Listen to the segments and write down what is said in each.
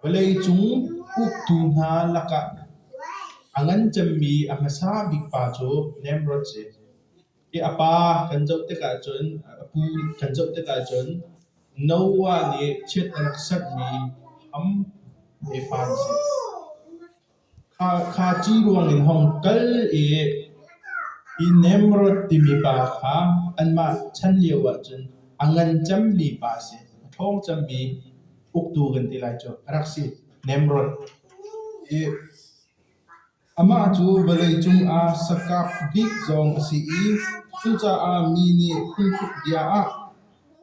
Vawleicung uktu hna lakah a ngan cemmi a hmasa bik pa cu Nimrod si. Hi a pa kan zoh tikah cun, a pu kan zoh tikah cun Noah nih chiat a rak sanhmi Ham he pa an si. Khakhaci ruangin hong kal i Inemrod timi pa kha anmah chan lio ahcun a ngan cemmi pa a si, a ṭhawng cemmi uktu kan ti lai cu, a rak si, Nemrod. I amah cu vawleicung ah sakap bik zong a si i cucaah mi nih phunhruk bia ah,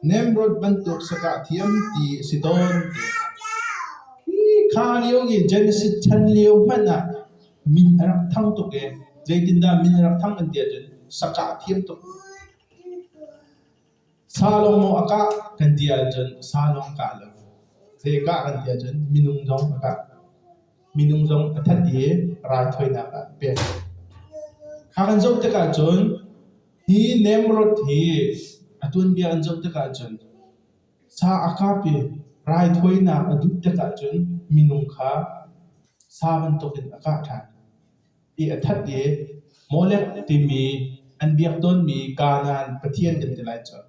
Nemrod bantuk sakah thiamti a si tawn tiah hi kha lio in Genesis chan lio hmanh ah min a rak thang tuk i zeitindah min a rak thang an ti ahcun sakah thiam tuk. Sa lawng maw a kah kan ti ahcun sa lawng kah lo. Zei a kah kan ti ahcun minung zong a kah. Minung zong a that i raithawinak ah pek. Kha kan zoh tikah cun Hi nemrod hi a tuanbia an zoh tikah cun sa a kap i raithawinak a duh tikah cun minung kha sa bantukin a kah ṭhan i a that i Molek timi an biak tawnmi Kanaan pathian kan ti lai cu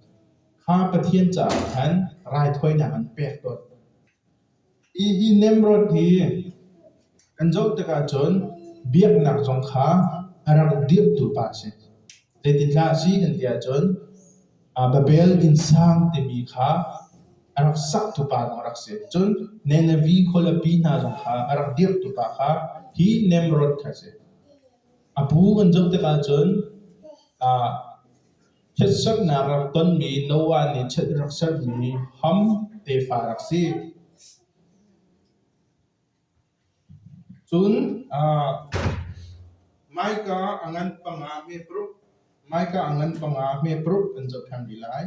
kha pathian caah khan raithawinak an pek tawn. Ihih nemrawt hi kan zoh tikah cun biaknak zong kha a rak dirhtu pa a si. Zeitindah a si an ti ahcun Babel Innsang timi kha a rak saktu pa lawng a rak si. Cun Nineveh khualipi hna zong kha a rak dirhtu pa kha hi Nemrawt kha a si. A bu an zoh tikah cun Ṭhitserhnak rak tonmi Noah nih chiat a rak serhmi ham tefa rak si. Cun ah, Micah a ngan panga hme paruk, Micah a ngan panga hme paruk an cohlang rih lai.